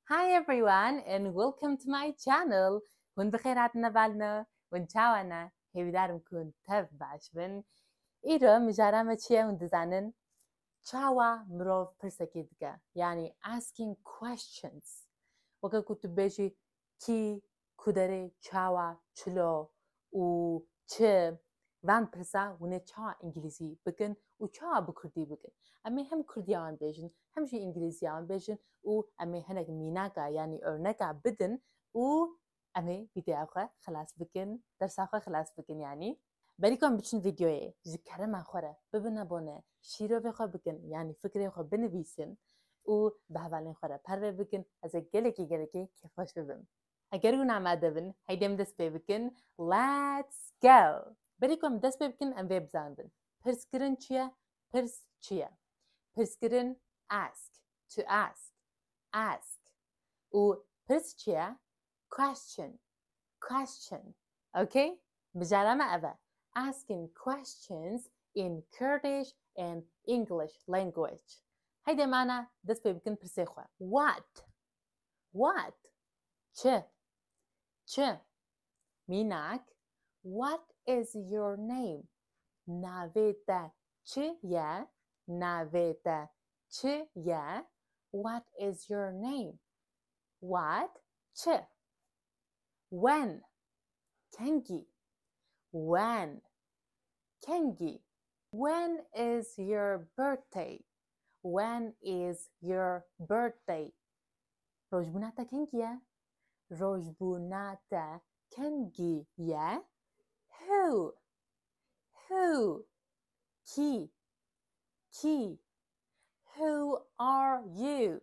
Hi everyone and welcome to my channel Hûn bi xêr hatine bal me Hûn çawa ne Hêvîdar im ku hûn tev baş bin Îro mijara me çi ye hûn dizanin Çawa mirov pirsekê dike yanî asking questions weke ku tu bêjî kî, kuderê, çawa, çilo û çi van pirsa hûn ê çawa îngîlîzî bikin û çawa bi kurdî bikin. Em ê hem kurdîya wan bêjin hem jî îngîlîzîya wan bêjin û em ê hinek mînaka yanî örneka bidin û em ê vîdeoya xwe xilas bikin, dersa xwe xilas bikin yanî. Berîka em biçin vîdeoyê ji kerema xwe re bibin abone, şîrovê xwe bikin yanî fikrê xwe binivîsin û bi hevalên xwe re pervê bikin ez ê gelekî gelekî kêfxweş bibim. Eger hûn amade bin heydê em dest pê bikin Let's go! Berîka em dest pê bikin em vê bizandin. Pirskirin çi ye? Pirs çi ye? Pirskirin ask, to ask, ask û pirs çi ye? Question, question. Okay? Bijara me ev e. Asking questions in Kurdish and English language. Heyde mana dest pê bikin pirsê xwe. What? What? Çi? Çi? Mînak What is your name? Navê te çi ye? Navê te çi ye? What is your name? What? Çi? When? Kengî? When? Kengî? When is your birthday? When is your birthday? Rojbûna te kengî ye? Rojbûna te kengî ye? Who? Who? Kî? Kî? Who are you?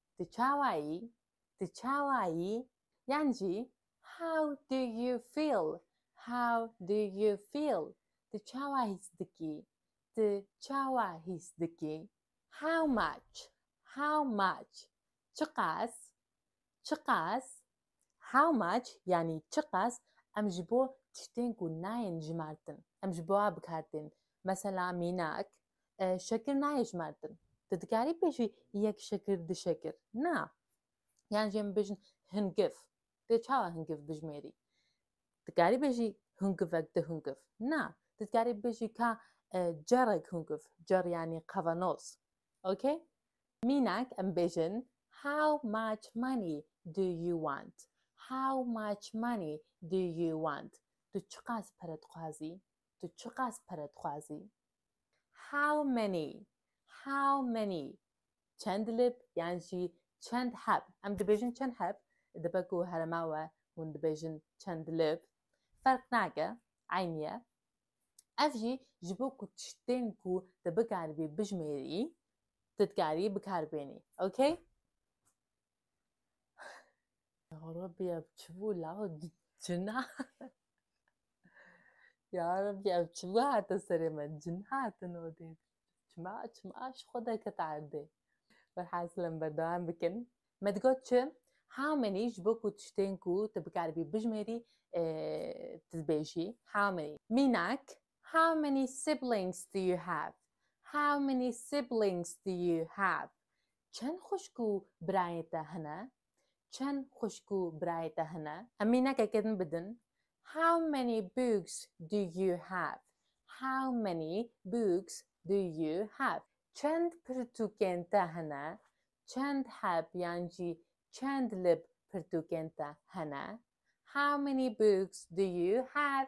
Tu çawa yî? Tu çawa yî? Yan jî How do you feel? How do you feel? Tu çawa hîs dikî? Tu çawa hîs dikî? How much? How much? Çiqas? Çiqas? How much yanî çiqas em ji bo tiştên ku nayên jimartin em ji bo a bikar tên. Mesela mînak şekir nayê jimartin. Tu dikarî pêşî yek şekir du şekir na. Yan jê min bêjin hingif. Dê çawa hingif bijimêrî? Dikarî bêjî hingivek du hingif. Na. Tu dikarî bêjî ka cerek hingif. Cer yanî qevenoz. Ok? Mînak em bêjin How much money do you want? How much money do you want? Tu çiqas pere dixwazî? Tu çiqas pere dixwazî? How many? How many? Çend lib yan jî çend heb? Em dibêjin çend heb? Dibe ku herêma we hûn dibêjin çend lib. Ferq nake, eynî ye. Ev jî ji bo ku tiştên ku tu bikaribî bijimêrî, tu dikarî bikar bênî. Ok? Ya Rabbi ev çi bû la cina. Ya Rabbi ev çi bû hate serê me cin hatin odê. Çima, çima ji xwe deket erdê. Velhasilem berdewam bikin. Me digot çi? How many ji bo ku tiştên ku tu bikaribî bijimêrî tu dibêjî how many. Mînak, How many siblings do you have? How many siblings do you have? Çend xwişk û birayên te hene? Çend xwişk û birayê te hene? Em mînekeke din bi din. How many books do you have? How many books do you have? Çend pirtûkên te hene? Çend heb yan jî çend lib pirtûkên te hene? How many books do you have?